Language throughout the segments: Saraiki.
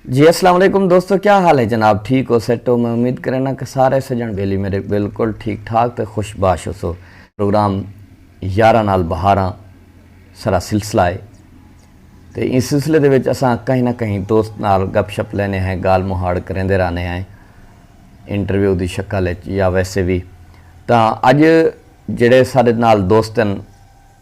جی اسلام علیکم دوستو کیا حال ہے جناب ٹھیک ہو سیٹ ہو میں امید کرنا کہ سارے سجن بیلی میرے بالکل ٹھیک ٹھاک تے خوش باش ہو سو پروگرام یارہ نال بہاراں سرا سلسلہ ہے تے اس سلسلے دے وچ اساں کہیں نہ کہیں دوست نال گپ شپ لینے ہیں گال مہاڑ کریں دے رانے ہیں انٹرویو دی شکل ہے یا ویسے بھی تا اج جڑے سارے نال دوستن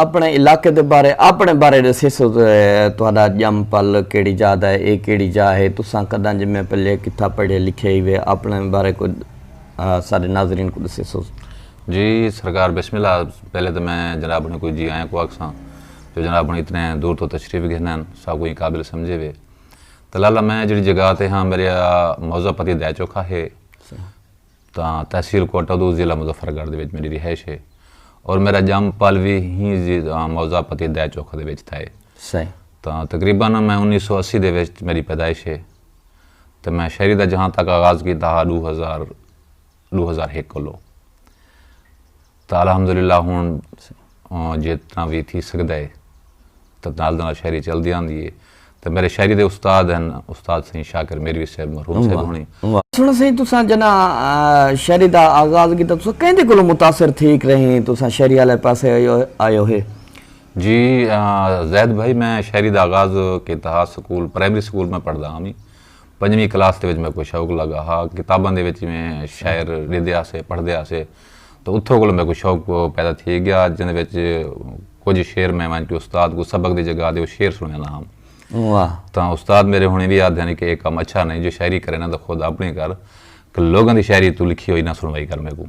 آپنڑے علاقے دے بارے آپنڑے بارے ڈسیسو تہاڈا جم پل کیڑی جاہ دا ہے اے کیڑی جاہ ہے تساں کڈاں جمے پلے کتھاں پڑھے لکھے ہیوے آپنڑے بارے کجھ اساڈے ناظرین کوں ڈسیسو۔ جی سرکار بسم اللہ پہلے تے میں جناب نوں کوئی جی آیاں کوں آکھساں جو جناب نوں اتنے دور توں تشریف گھنن ساکوں ایں قابل سمجھے وے تلالہ میں جیڑھی جگہ تے ہاں میرے موضوع پتی دے چوکھا ہے تاں تحصیل کوئٹہ دو ضلع مظفر گڑھ دے وچ میڈی رہائش ہے اور میڈا جم پل وی ہی زی موضع پتی دے چوکھ دے وچ تھائے۔ صحیح۔ تاں تقریبا نا میں انیس سو اسی دے وچ میڈی پیدائش ہے تاں میں شاعری دا جہاں تک آغاز کیتا ہا ڈو ہزار ڈو ہزار ہک کولو۔ تاں الحمدللہ ہݨ جتنا وی تھی سڳدا ہے تاں نال دے نال شاعری چلدی آندی ہے تاں میݙے شاعری دے استاد ہن استاد سئیں شاکر میروی صاحب مرحوم صاحب ہوݨیں۔ سݨاں سئیں تساں جݙاں شاعری دا آغاز کیتا تساں کیندے کولوں متاثر تھیک رہیں تساں شاعری آلے پاسے آئے ہوئے۔ جی زید بھائی میں شاعری دا آغاز کیتا ہا سکول پرائمری سکول میں پڑھدا ہا میں پنجویں کلاس دے وچ میکوں شوق لڳا ہا کتاباں دے وچ میں شاعر ݙیندے ہاسے پڑھدے ہاسے۔ تاں اتھوں کولوں میکوں شوق پیدا تھی گیا جیندے وچ کجھ شعر میں ونڄ کے استاد کوں سبق دی جگہ تے او شعر سݨیاندا ہم۔ تاں استاد میݙے ہݨیں وی آہدے ہن کہ اے کم اچھا نئیں جو شاعری کریں ناں تاں خود آپݨی کر کہ لوکاں دی شاعری توں لکھی ہوئی نہ سݨوائی کر میکوں۔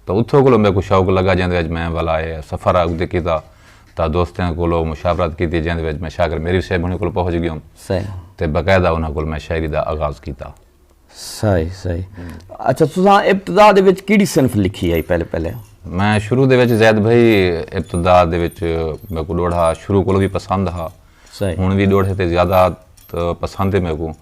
تاں اتھوں کولوں میکوں شوق لڳا جیندے وچ میں ولا اے سفر اڳتے کیتا تاں دوستیاں کولوں مشاورت کیتی جیندے وچ میں شاکر میریر صاحب ہݨیں کولوں پہنچ ڳیوم تے باقاعدہ انہاں کولوں میں شاعری دا آغاز کیتا۔ صحیح صحیح اچھا تساں ابتدا دے وچ کیڑی صنف لکھی ہے پہلے پہلے میں شروع دے وچ زید بھائی ابتدا دے وچ میں کو ڈوڑھا شروع کولو بھی پسند ہا صحیح ہن بھی ڈوڑھے تے زیادہ پسند ہے میں کو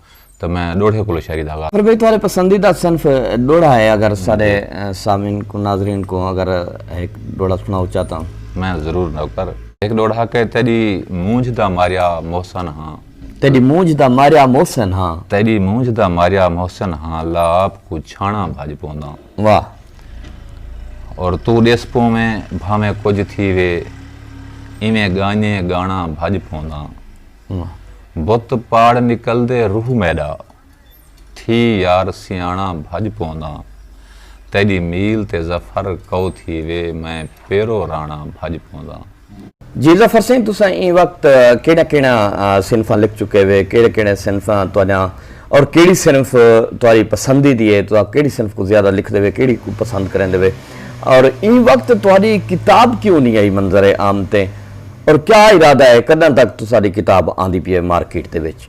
تو میں ڈوڑھے کولو شاعری دا آغاز پر بھائی تہاڈے پسندیدہ صنف ڈوڑھا ہے اگر سارے سامعین کو ناظرین کو اگر ایک ڈوڑھا سناؤ چاہتا ہوں میں ضرور نوکر ایک ڈوڑھا کہ تیری مونجھ دا ماریا محسن ہاں تیݙی مونجھ دا ماریا محسن ہاں۔ تیݙی مونجھ دا ماریا محسن ہاں اللہ آپ کوں چھاݨاں بھڄ پونداں۔ واہ۔ اور توں ݙس پوویں بھانویں کجھ تھیوے ایویں ڳانیے ڳاݨاں بھڄ پونداں۔ بت پاڑ نکلدے روح میݙا تھی یار سیاݨا بھڄ پونداں تیݙی میل تے ظفر کئو تھی وے میں پیرو راݨا بھڄ پونداں۔ جی ظفر سئیں تساں ایں وقت کیڑھیاں کیڑھیاں صنفاں لکھ چکے وے کیڑھے کیڑھے صنفاں تہاݙیاں اور کیڑھی صنف تہاݙی پسندی دی ہے تساں کیڑھی صنف کوں زیادہ لکھدے وے کیڑھی کوں پسند کریندے وے اور ایں وقت تہاݙی کتاب کیوں نی آئی منظر عام تے اور کیا ارادہ ہے کݙاں تک تساݙی کتاب آندی پی ہے مارکیٹ دے وچ۔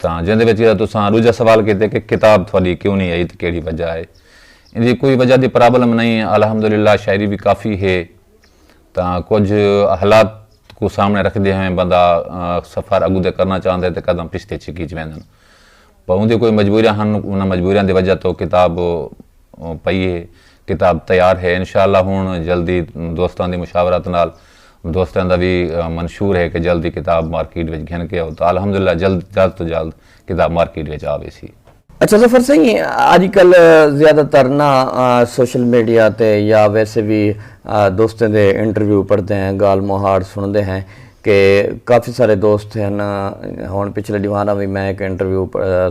تاں جیندے وچ جیڑھا تساں ڈوجھا سوال کیتے کہ کتاب تھاڈی کیوں نی آئی تے کیڑھی وجہ ہے ایندی کوئی وجہ دی پرابلم نئیں الحمدللہ شاعری وی کافی ہے تاں کجھ حالات کوں سامنے رکھدے ہوئیں بندہ سفر اگوں تے کرنا چاہندے تے قدم پچھتے چھکی چ ویندن پاوندی کوئی مجبوریاں ہن انہاں مجبوریاں دی وجہ توں کتاب پئی ہے کتاب تیار ہے انشاءاللہ ہن جلدی دوستاں دی مشاورت نال دوستاں دا وی منشور ہے کہ جلدی کتاب مارکیٹ وچ گھن کے او تاں الحمدللہ جلد جلد توں جلد کتاب مارکیٹ وچ آ ویسی۔ اچھا ظفر سئیں اج کل زیادہ تر نا سوشل میڈیا تے یا ویسے وی دوستاں دے انٹرویو پڑھدے ہیں گالھ مہاڑ سنڑدے ہیں کہ کافی سارے دوست ہن ہن پچھلے ڈینہاں دا وی میں ہک انٹرویو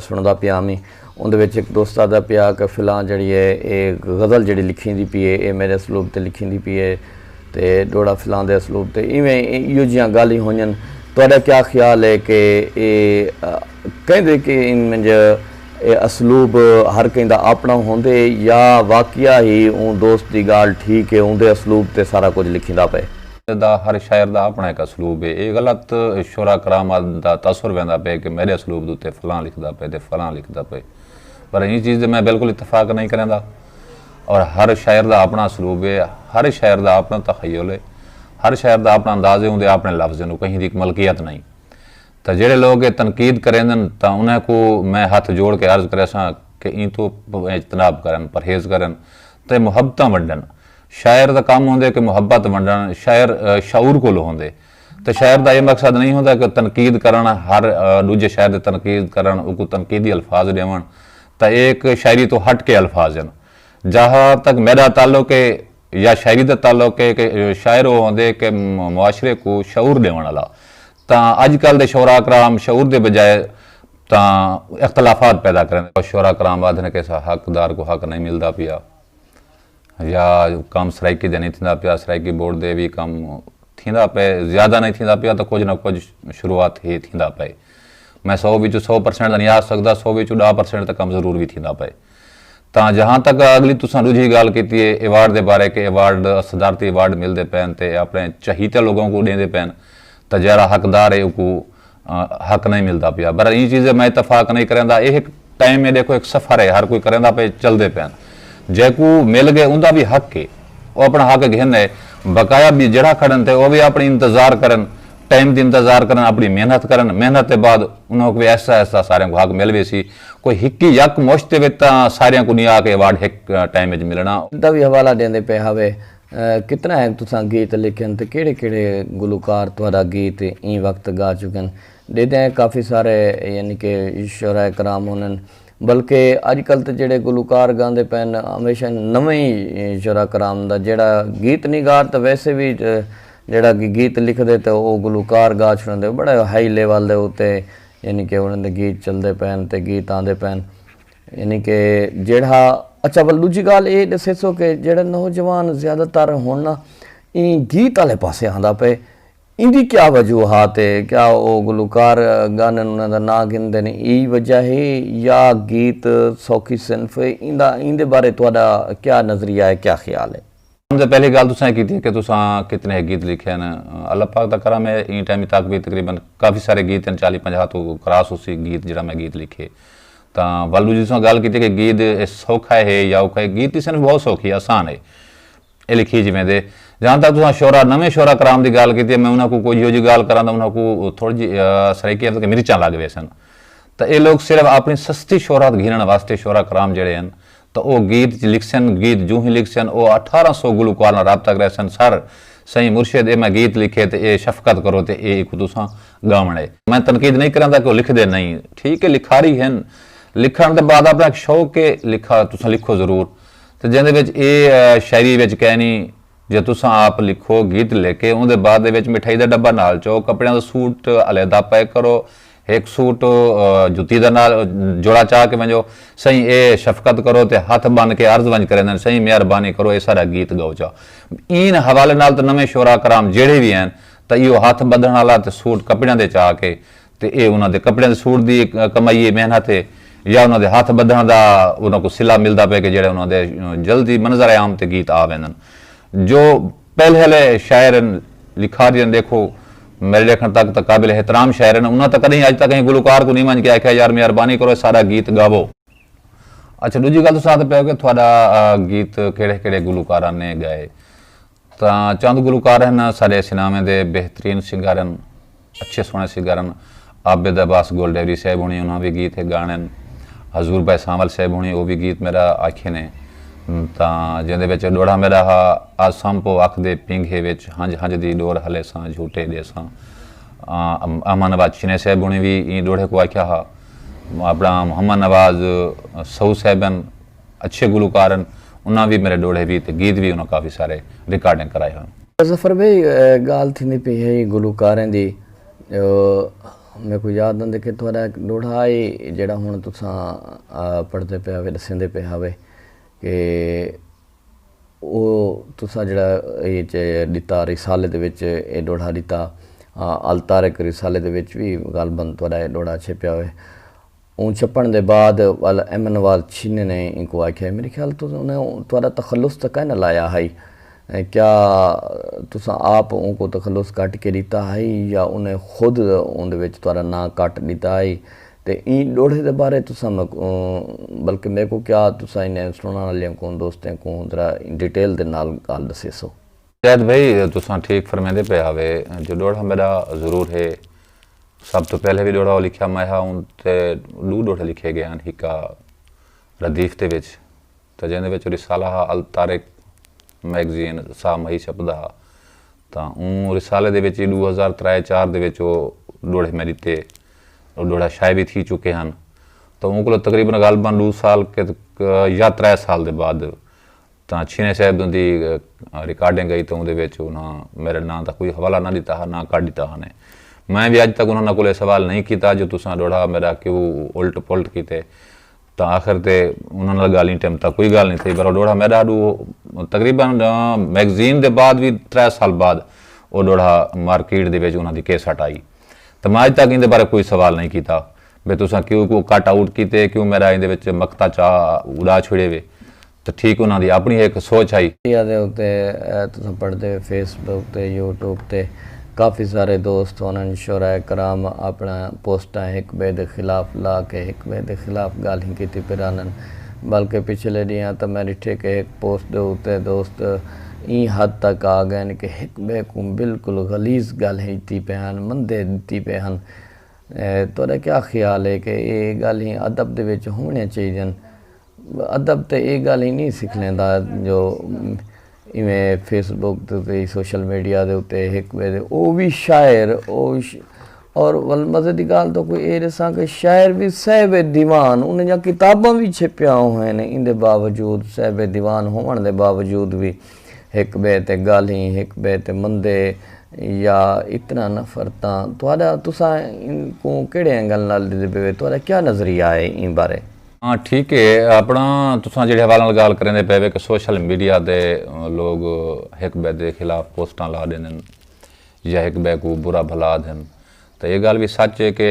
سنڑدا پیا ہمی۔ اوندے وچ ہک دوست آہدا پیا کہ فلاں جیڑھی ہے اے غزل جیڑھی لکھیندی پی اے اے میڈے اسلوب تے لکھیندی پی اے تے ڈوہڑا فلاں دے اسلوب تے ایویں ایہو جیہاں گالھیں ہونجن تہاڈا کیا خیال ہے کہ اے کیندے کہ انج اے اسلوب ہر کہیں دا آپنڑاں ہوندے یا واقعہ ہی اوں دوست دی گالھ ٹھیک اے اوندے اسلوب تے سارا کجھ لکھیندا پئے۔ دا ہر شاعر دا اپݨا ہک اسلوب ہے اے غلط شعراء کرام دا تاثر ویندا پئے کہ میݙے اسلوب دے اتے فلاں لکھدا پئے تے فلاں لکھدا پئے پر ایں چیز تے میں بالکل اتفاق نئیں کریندا اور ہر شاعر دا اپݨا اسلوب ہے ہر شاعر دا اپݨا تخیل ہے ہر شاعر دا اپݨا انداز ہے اوندے اپݨے لفظ ہن او کہیں دی ہک ملکیت نئیں تاں جیڑھے لوگ اے تنقید کریندن تاں انہاں کوں میں ہتھ جوڑ کے عرض کریساں کہ ایں توں اجتناب کرن پرہیز کرن تے محبتاں ونڈن شاعر دا کم ہوندے کہ محبت ونڈن شاعر شعور کولو ہوندے تے شاعر دا اے مقصد نئیں ہوندا کہ تنقید کرن ہر ڈوجھے شاعر دی تنقید کرن اوکوں تنقیدی الفاظ ڈیون تاں اے ہک شاعری توں ہٹ کے الفاظ ہن جہاں تک میڈا تعلق اے یا شاعری دا تعلق اے کہ شاعر او ہوندے کہ معاشرے کوں شعور ڈیون آلا تاں اج کل دے شعراء کرام شعور دے بجائے تاں اختلافات پیدا کریندے شعراء کرام آدھن کہ اساں حق دار کوں حق نئیں ملدا پیا۔ یا کم سرائیکی دا نئیں تھیندا پیا، سرائیکی بورڈ دے وی کم تھیندا پئے، زیادہ نئیں تھیندا پیا تاں کجھ نہ کجھ شروعات ہے تھیندا پئے۔ میں سو وچوں سو پرسنٹ تاں نئیں آکھ سڳدا، سو وچوں ݙاہ پرسنٹ تاں کم ضرور وی تھیندا پئے۔ تاں جہاں تک اڳلی تساں ݙوجھی ڳالھ کیتی ہے ایوارڈ دے بارے کہ ایوارڈ صدارتی ایوارڈ ملدے پئن تے اپݨے چہیتے لوگاں کوں ݙیندے پئن تاں جیڑھا حقدار ہے اوکوں حق نئیں ملدا پیا بھرا ایں چیزے میں اتفاق نئیں کریندا اے ہک ٹائم اے ڈیکھو ہک سفر اے ہر کوئی کریندا پئے چلدے پین جیکو مل گئے اوندا وی حق اے او اپنا حق گھن اے بقایا بی جیڑھا کھڑن تے او وی اپنی انتظار کرن ٹائم دی انتظار کرن اپنی محنت کرن محنت دے بعد انہاں کوں وی آہستہ آہستہ ساریاں کوں حق مل ویسی کوئی ہکی یک مشت دے وچ تاں ساریاں کوں نی آ کے ایوارڈ ہک ٹائم وچ ملنا۔ دا وی حوالہ ڈیندے پئے ہاوے کتنا ہے تساں گیت لکھن تے کیڑھے کیڑھے گلوکار تہاڈا گیت ایں وقت گا چکن۔ ڈیدے ہیں کافی سارے یعنی کہ شعراء کرام ہونن بلکہ اج کل تے جیڑھے گلوکار گاندے پئن ہمیشہ نویں ای شعراء کرام دا جیڑھا گیت نگار تاں ویسے وی جیڑھا کہ گیت لکھدے تے او گلوکار گا چھوڑندے بڑے ہائی لیول دے اتے یعنی کہ انہاں دے گیت چلدے پئن تے گیت آندے پئن۔ یعنی کہ جیڑھا اچھا ول ڈوجھی گال اے ڈسیسو کہ جیڑھا نوجوان زیادہ تر ہن نا ایں گیت آلے پاسے آندا پئے ایندی کیا وجوہات اے کیا او گلوکار گانن انہاں دا ناں گھندن ای وجہ ہے یا گیت سوکھی صنف اے ایندا ایندے بارے تہاڈا کیا نظریہ اے کیا خیال اے؟ سب توں پہلی گالھ تساں اے کیتی ہے کہ تساں کتنے ہے گیت لکھے ہن۔ اللہ پاک دا کرم ہے ایں ٹائم تک وی تقریبا کافی سارے گیت ہن چالی پنجاہ توں کراس ہوسی گیت جیڑھا میں گیت لکھے۔ تاں ول ڈوجھی تساں گالھ کیتی کہ گیت سوکھا ہے یا اوکھا ہے گیت دی صنف بہت سوکھی ہے آسان ہے۔ اے لکھی جی ویندے۔ جہاں تک تساں شعرا نویں شعرا کرام دی گالھ کیتی ہے میں انہاں کوں کوئی جیہو جی گالھ کراں تاں انہاں کوں تھوڑی جی سرائیکی عرض کہ مرچاں لگ ویسن۔ تاں اے لوگ صرف اپنی سستی شہرت گھنݨ واسطے شعرا کرام جیڑھے ہن تاں او گیت لکھسن، گیت جوہی لکھسن او اٹھارہ سو گلوکار نال رابطہ کریسن سر سئیں مرشد اے میں گیت لکھے تے اے شفقت کرو تے اے ایکوں تساں گاون اے۔ میں تنقید نئیں کریندا کہ او لکھدے نئیں ٹھیک اے لکھاری ہن لکھن دے بعد اپنا ہک شوق اے لکھا تساں لکھو ضرور تے جیندے وچ اے شاعری وچ کینی جو تساں آپ لکھو گیت لکھ کے اوندے بعد دے وچ مٹھائی دا ڈبہ نال چو کپڑیاں دا سوٹ علیحدہ پیک کرو ہک سوٹ جتی دا نال جوڑا چا کے ونجو سئیں اے شفقت کرو تے ہتھ بن کے عرض ونج کریندن سئیں مہربانی کرو اے سارا گیت گاؤ چا این حوالے نال تے نویں شعراء کرام جیڑھے وی ہین تاں ایہو ہتھ بدھن آلا تے سوٹ کپڑیاں دے چا کے تے اے انہاں دے کپڑیاں دے سوٹ دی کمائی اے محنت اے یا انہاں دے ہتھ بدھن دا انہاں کوں صلہ ملدا پئے کے جیڑھے انہاں دے جلدی منظر عام تے گیت آ ویندن جو پہلے شاعر ہن لکھاری ہن ڈیکھو میرے ڈیکھن تک تاں قابل احترام شاعر ہن انہاں تاں کدیں اج تک کہیں گلوکار کوں نہیں ونج کے آکھیا یار مہربانی کرو ساڈا گیت گاوو اچھا ڈوجھی گل تساں آکھدے پئے ہو کہ تھاڈا گیت کیڑھے کیڑھے گلوکاراں نے گائے تاں چند گلوکار ہن ساڈے سناویں دے بہترین سنگر ہن۔ اچھے سوہنے سنگر ہن۔ عابد عباس گل ڈیوری صاحب ہونی انہاں وی گیت ہے گانے ہن۔ حضور بھائی سانول صاحب ہونی او وی گیت میڈا آکھے نے۔ تاں جیندے وچ ڈوہڑا میڈا ہا آ سم پو اکھ دے پینگھے وچ ہنج ہنج دی ڈور ہلے ساں جھوٹے ڈے ساں۔ احمد نواز چنے صاحب ہونی وی ایں ڈوہڑے کو آکھیا ہا۔ اپنا محمد نواز سہو صاحب ہن۔ اچھے گلوکار ہن انہاں وی میرے ڈوہڑے وی تے گیت وی انہاں کافی سارے ریکارڈنگ کرائے ہن۔ ظفر بھئی گالھ تھیندی پئی ہئی گلوکاریں دی میکوں یاد آندے کہ تہاڈا ہک ڈوہڑا ہئی جیہڑا ہن تساں پڑھدے پئے ہاوے ڈسیندے پئے ہاوے کہ او تساں جیہڑا اے اچ ڈتا رسالے دے وچ اے ڈوہڑا ڈتا الطارق رسالے دے وچ وی غالبا تہاڈا اے ڈوہڑا چھپیا ہوئے اوں چھپݨ دے بعد ول ایمن وال چھینے نے اینکوں آکھیا میݙے خیال توں انہیں تہاݙا تخلص تاں کائناں لایا ہئی کیا تساں آپ اونکوں تخلص کٹ کے ݙتا ہئی یا انہیں خود اوندے وچ تہاݙا ناں کٹ ݙتا ہئی تے ایں ݙوڑھے دے بارے تساں میکوں بلکہ میکوں کیا تساں انہیں سݨݨ آلیاں کوں دوستیں کوں ذرا ڈیٹیل دے نال ڳالھ ݙسیسو۔ زید بھئی تساں ٹھیک فرمیندے پئے ہاوے جو ڈوہڑا میڈا ضرور ہے سب توں پہلے وی ڈوہڑا او لکھیا میں ہا اوں تے ڈو ڈوہڑے لکھے گئے ہن ہکا ردیف دے وچ تاں جیندے وچ او رسالہ ہا الطارق میگزین سا مہی چھپدا ہا تاں اوں رسالے دے وچ ای ڈو ہزار ترائے چار دے وچ او ڈوہڑے میں ڈتے او ڈوہڑا شائع وی تھی چکے ہن تاں اوں کولو تقریبا غالبا ڈو سال یا ترائے سال دے بعد تاں چھینے صاحب دوں دی ریکارڈنگ آئی تاں اوندے وچ انہاں میرے ناں دا کوئی حوالہ نہ ڈتا ہا نہ کڈ ڈتا ہانے میں وی اج تک انہاں کولے سوال نہیں کیتا جو تساں ڈوڑھا میرا کیوں الٹ پلٹ کیتے تاں آخر تے انہاں نال گال نی ٹیم تاں کوئی گال نی تھئی پر او ڈوڑھا میڈا ڈو تقریبا میگزین دے بعد وی ترے سال بعد او ڈوڑھا مارکیٹ دے وچ انہاں دی کیسٹ آئی تاں میں اج تک ایندے بارے کوئی سوال نہیں کیتا بھئی تساں کیوں کو کٹ آؤٹ کیتے کیوں میرا ایندے وچ مقطع چا اڑا چھوڑے وے تاں ٹھیک انہاں دی اپݨی ہک سوچ ہئی۔ میڈیا دے اتے تساں پڑھدے ہو فیس بک تے یوٹیوب تے کافی سارے دوست ہونن شعراء کرام اپݨا پوسٹاں ہک ٻئے دے خلاف لا کے ہک ٻئے دے خلاف ڳالھیں کیتی پئے رہندن بلکہ پچھلے ݙینہاں تاں میں ݙٹھے کہ ہک پوسٹ دے اتے دوست ایں حد تک آ ڳئن کہ ہک ٻئے کوں بالکل غلیظ ڳالھیں ݙتی پئے ہن مندے ݙتی پئے ہن تہاݙا کیا خیال ہے کہ اے ڳالھیں ادب دے وچ ہووݨیاں چاہیدن؟ ادب تے اے گالھ ہی نی سکھلیندا جو ایویں فیس بک تے سوشل میڈیا دے اتے ہک بئے دے او وی شاعر او اور ول مزے دی گالھ تو کوئی اے ڈساں کہ شاعر وی صاحب دیوان انہاں دیاں کتاباں وی چھپیاں ہوئن ایندے باوجود صاحب دیوان ہووݨ دے باوجود وی ہک بئے تے گالھیں ہک بئے تے مندے یا اتنا نفرتاں تہاڈا تساں کوں کیڑے اینگل نال ڈیندے پئے تہاڈا کیا نظریہ اے ایں بارے؟ ہاں ٹھیک ہے اپنا تساں جیڑے حوالے نال گال کریندے پے وے کہ سوشل میڈیا دے لوگ ہک بے دے خلاف پوسٹاں لا ڈیندن یا ہک بے کو برا بھلا آدھن تے اے گال وی سچ ہے کہ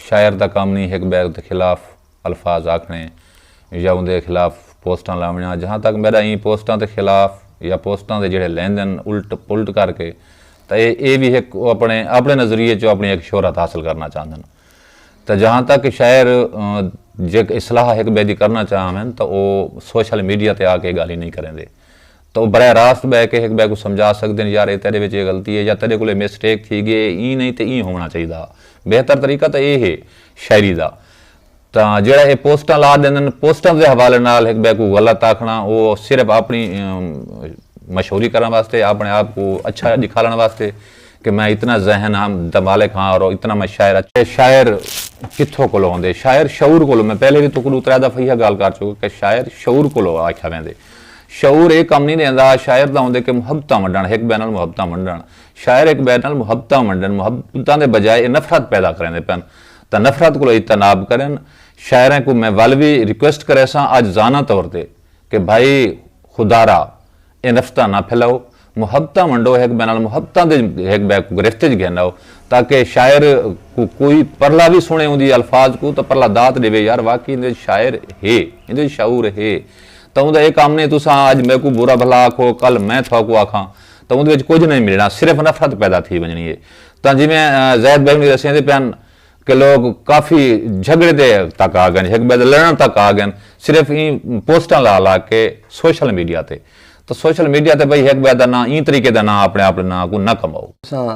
شاعر دا کم نی ہک بے دے خلاف الفاظ آکھنے یا اوندے خلاف پوسٹاں لاونیاں جہاں تک میڈا ایں پوسٹاں دے خلاف یا پوسٹاں دے جیڑے لیندن الٹ پلٹ کر کے تے اے وی ہک اپنے اپنے نظریے چوں اپنی ہک شہرت حاصل کرنا چاہندن۔ تاں جہاں تک شاعر جیک اصلاح ہک بئے دی کرنا چاہن ہن تاں او سوشل میڈیا تے آ کے اے گالھیں نئیں کریندے تاں او براہ راست بئے کے ہک بئے کوں سمجھا سکدے ہن یار اے تیڈے وچ اے غلطی اے یا تیڈے کول اے مسٹیک تھی گی اے ایں نئیں تے ایں ہووݨا چاہیدا ہا بہتر طریقہ تاں اے ہے شاعری دا تاں جیڑھا اے پوسٹاں لا ڈیندن پوسٹاں دے حوالے نال ہک بئے کوں غلط آکھݨا او صرف اپݨی مشہوری کرݨ واسطے اپݨے آپ کوں اچھا ڈکھاوݨ واسطے کہ میں اتنا ذہن ہاں دمالک ہاں اور اتنا میں شاعر ہاں۔ کہ شاعر کتھوں کولوں ہوندے۔ شاعر شعور کولوں میں پہلے وی توں کوں ڈو ترے دفعہ ایہا گال کر چکا کہ شاعر شعور کولوں آکھیا ویندے۔ شعور اے کم نی ڈیندا شاعر دا ہوندے کہ محبتاں ونڈن ہک بئے نال محبتاں ونڈن۔ شاعر ہک بئے نال محبتاں ونڈن محبتاں دے بجائے اے نفرت پیدا کریندے پن تاں نفرت کولوں اجتناب کرن۔ شاعراں کوں میں ول وی ریکویسٹ کریساں آجزانہ طور تے کہ بھائی خدارا۔ اے نفرتاں نہ پھیلاؤ، محبتاں ونڈو ہک ٻئے نال محبتاں دے ہک ٻئے کوں گرفت وچ گھن آؤ تاکہ شاعر کوں کوئی پرلا وی سݨے اوندی الفاظ کوں تاں پرلا داد ݙیوے یار واقعی ایندے وچ شاعر ہے ایندے وچ شعور ہے تاں اوندا اے کم نئیں تساں اڄ میکوں برا بھلا آکھو کل میں تھاکوں آکھاں تاں اوندے وچ کجھ نئیں ملݨا صرف نفرت پیدا تھی ونڄݨی اے تاں جیویں زید بھائی ہݨیں ݙسیندے پئے ہن کہ لوک کافی جھگڑے دے تک آ گئن ہک بئے دے لڑن تک آ گئن صرف ایں پوسٹاں لا لا کے سوشل میڈیا تے تاں سوشل میڈیا تے بھئی ہک بئے دا ناں ایں طریقے دا ناں اپنے آپ دے ناں کوں نہ کماؤ۔ تساں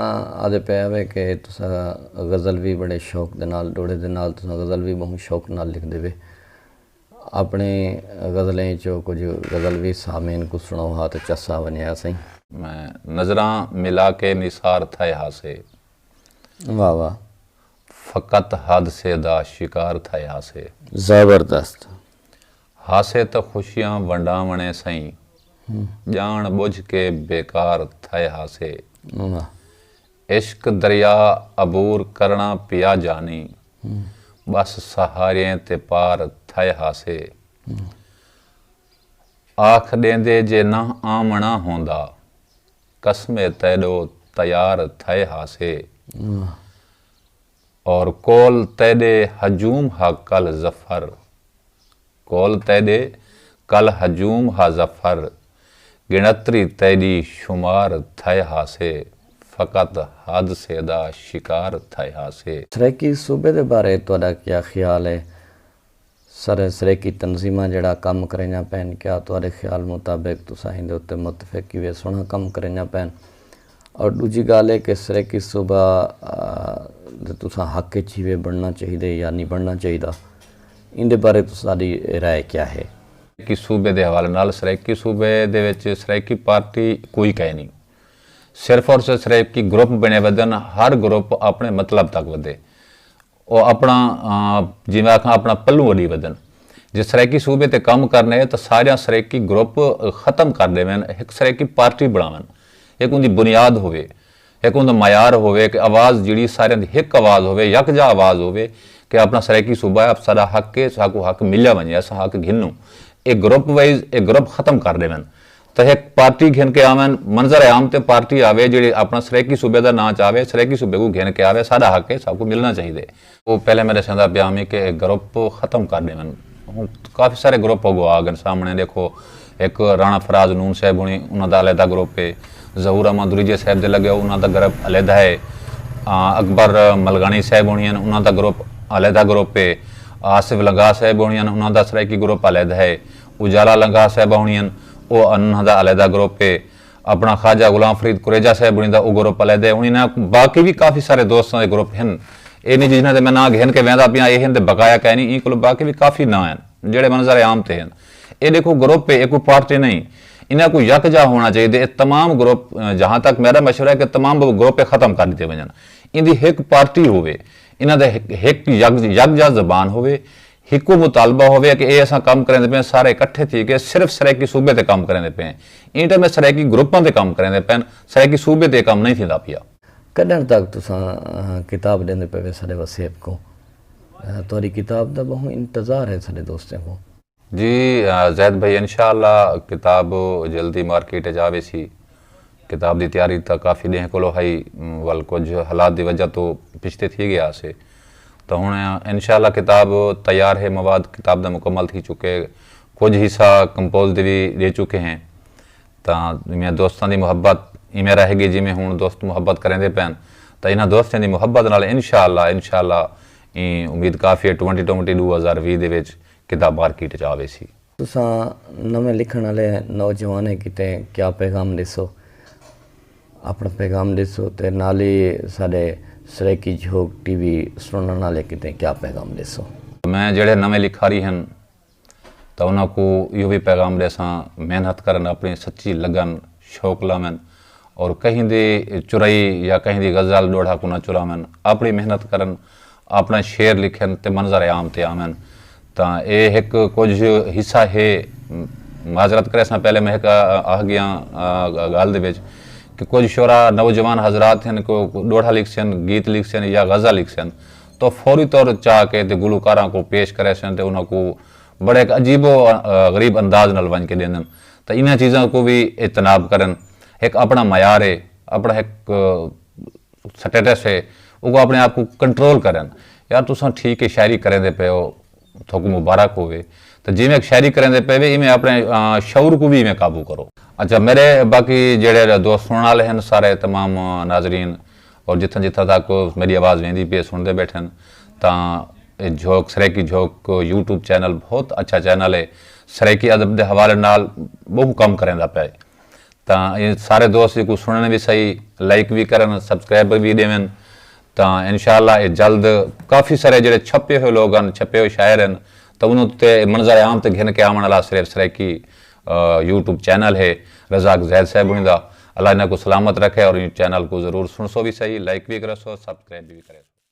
آدھے پئے ہوے کہ تساں غزل وی بڑے شوق دے نال ڈوڑھے دے نال تساں غزل وی بہوں شوق نال لکھدے وے اپنے غزلیں اچوں کجھ غزل وی سامعین کوں سنڑو ہا تاں چس آ ونجے ہا سئیں۔ میں نظراں ملا کے نثار تھئے ہا سے۔ واہ واہ۔ فقط حادثے دا شکار تھئیا سے۔ زبردست۔ ہاسے تاں خوشیاں ونڈاونڑیں سئیں۔ جانڑ بجھ کے بیکار تھئے ہاسے۔ واہ۔ عشق دریا عبور کرنڑا پیا جانی۔ بس سہاریئیں تے پار تھئے ہاسے۔ آکھ ڈیندے جے نہ آونڑا ہوندا۔ قسمے تیڈو تیار تھئے ہاسے اور کول تیڈے ہجوم ہا کل ظفر کول تیڈے کل ہجوم ہا ظفر گنتری تیڈی شمار تھئے ہاسے فقط حادثے دا شکار تھئے ہاسے۔ سرائیکی صوبے دے بارے تہاڈا کیا خیال ہے؟ سر سریکی تنظیماں جیڑھا کم کریندیاں پئن کیا تہاڈے خیال مطابق تساں ایندے اتے متفق کیویں سوہنڑا کم کریندیاں پئن اور ڈوجھی گالھ اے کہ سریکی صوبہ دے تساں حق اچ ہیوے بنڑنا چاہیدے یا نی بنڑنا چاہیدا ایندے بارے تساڈی رائے کیا ہے؟ سریکی صوبے دے حوالے نال سریکی صوبے دے وچ سریکی پارٹی کوئی کئے نی صرف اور صرف سریکی گروپ بنڑے ودھن ہر گروپ اپنڑے مطلب تک ودھے او اپݨا جیویں آکھاں اپݨا پلوں وݙی ودن جے سرائیکی صوبے تے کم کرݨ اے تاں ساریاں سرائیکی گروپ ختم کر ݙیون ہک سرائیکی پارٹی بݨاون ہک اوندی بنیاد ہووے ہک اوندا معیار ہووے کہ آواز جیڑھی ساریاں دی ہک آواز ہووے یکجا آواز ہووے کہ اپݨا سرائیکی صوبہ اے ساݙا حق اے ساکوں حق ملیا ونڄے اساں حق گھنوں اے گروپ وائز اے گروپ ختم کر ݙیون تاں ہک پارٹی گھن کے آون، منظر عام تے پارٹی آوے جیڑھی اپݨا سرائیکی صوبے دا ناں چاوے، سرائیکی صوبے کوں گھن کے آوے، ساݙا حق ہے، ساکوں ملݨا چاہیدے۔ او پہلے میݙے سئیں دا پیام ہی کہ اے گروپ ختم کر ݙیون۔ ہݨ کافی سارے گروپ اڳوں آ ڳن سامݨے، ݙیکھو ہک راݨا فراز نون صاحب ہوݨی انہاں دا علیحدہ گروپ ہے، ظہور احمد دریجے صاحب دے لڳے او انہاں دا گروپ علیحدہ ہے، اکبر ملگاݨی صاحب ہوݨی ہن انہاں دا گروپ علیحدہ گروپ ہے، آصف لنگاہ صاحب ہوݨی ہن انہاں دا سرائیکی گروپ علیحدہ ہے، اجالا لنگاہ صاحبہ ہونی ہن او انہاں دا علیحدہ گروپ ہے اپنا خواجہ غلام فرید کریجہ صاحب ہونی دا او گروپ علیحدہ ہے ہونی ناں باقی وی کافی سارے دوستاں دے گروپ ہن اے نی جنہاں دے میں ناں گھن کے ویندا پیاں اے ہن تے بقایا کائنی ایں کولو باقی وی کافی ناں ہن جیڑھے منظر عام تے ہن اے ڈیکھو گروپ ہے اے کوئی پارٹی نئیں انہاں کوں یک جا ہونا چاہیدے اے تمام گروپ جہاں تک میڈا مشورہ ہے کہ تمام گروپ ختم کر ڈتے ونجن ایندی ہک پارٹی ہووے انہاں دے ہک یک جا زبان ہووے ہکو مطالبہ ہووے کہ اے اساں کم کریندے پئے ہیں سارے اکٹھے تھی کے صرف سرائیکی صوبے تے کم کریندے پئے ہیں ایں ٹائم اے سرائیکی گروپاں تے کم کریندے پئن سرائیکی صوبے تے اے کم نئیں تھیندا پیا۔ کݙݨ تک تساں کتاب ݙیندے پئے وے ساݙے وسیب کوں تہاݙی کتاب دا ٻہوں انتظار ہے ساݙے دوستیں کوں۔ جی زید بھائی انشاءاللہ کتاب جلدی مارکیٹ اچ آ ویسی کتاب دی تیاری تاں کافی ݙینہہ کولو ہئی ول کجھ حالات دی وجہ توں پچھتے تھی ڳیا ہاسے تاں ہݨ انشاءاللہ کتاب تیار ہے مواد کتاب دا مکمل تھی چکے کجھ حصہ کمپوز دی وی ݙے چکے ہیں تاں میاں دوستاں دی محبت ایویں رہے گی جیویں ہݨ دوست محبت کریندے پئن تاں انہاں دوستیں دی محبت نال انشاءاللہ انشاءاللہ ایں امید کافی ہے ٹوئنٹی ٹوئنٹی ݙو ہزار ویہہ دے وچ کتاب مارکیٹ وچ آ ویسی۔ تساں نویں لکھݨ آلے نوجوانیں کیتے کیا پیغام ݙیسو؟ آپݨا پیغام ݙیسو تے نال ای ساݙے سرائیکی جھوک ٹی وی سݨݨ آلے کیتے کیا پیغام ݙیسو؟ میں جیڑھے نویں لکھاری ہن تاں انہاں کوں ایہو وی پیغام ݙیساں محنت کرن آپݨی سچی لگن شوق لاون اور کہیں دی چرائی یا کہیں دی غزل ݙوہڑا کوں نہ چراون آپݨی محنت کرن آپݨے شعر لکھن تے منظر عام تے آون تاں اے ہک کجھ حصہ ہے معذرت کریساں پہلے میں ہک آہ گیاں گالھ دے وچ کہ کجھ شعراء نوجوان حضرات ہن کہ او ڈوہڑا لکھسن گیت لکھسن یا غزہ لکھسن تاں او فوری طور چا کے تے گلوکاراں کوں پیش کریسن تے انہاں کوں بڑے ہک عجیب و غریب انداز نال ونج کے ڈیندن تاں انہاں چیزاں کوں وی اجتناب کرن ہک آپݨا معیار ہے آپݨا ہک سٹیٹس ہے اوکوں اپنے آپ کوں کنٹرول کرن یار تساں ٹھیک ہے شاعری کریندے پئے ہو تھوکوں مبارک ہووے تاں جیویں ہک شاعری کریندے پئے وے ایویں اپنے شعور کوں وی ایویں قابو کرو۔ اچھا میڈے باقی جیڑھے دوست سنڑن آلے ہن سارے تمام ناظرین اور جتھاں جتھاں تک میڈی آواز ویندی پی ہے سنڑدے بیٹھے ہن تاں اے جھوک سرائیکی جھوک یوٹیوب چینل بہت اچھا چینل ہے سرائیکی ادب دے حوالے نال بہوں کم کریندا پئے۔ تاں اے سارے دوست جیکوں سنڑن وی سہی لائک وی کرن سبسکرائب وی ڈیون تاں انشاءاللہ اے جلد کافی سارے جیڑھے چھپے ہوئے لوگ ہن چھپے ہوئے شاعر ہن تاں انہاں اتے منظر عام تے گھن کے آون آلا سریف سرائیکی یوٹیوب چینل ہے رزاق زید صاحب ہنڑیں دا اللہ انہاں کوں سلامت رکھے اور ایں چینل کوں ضرور سنڑسو وی سہی لائک وی کرسو سبسکرائب وی کریسو۔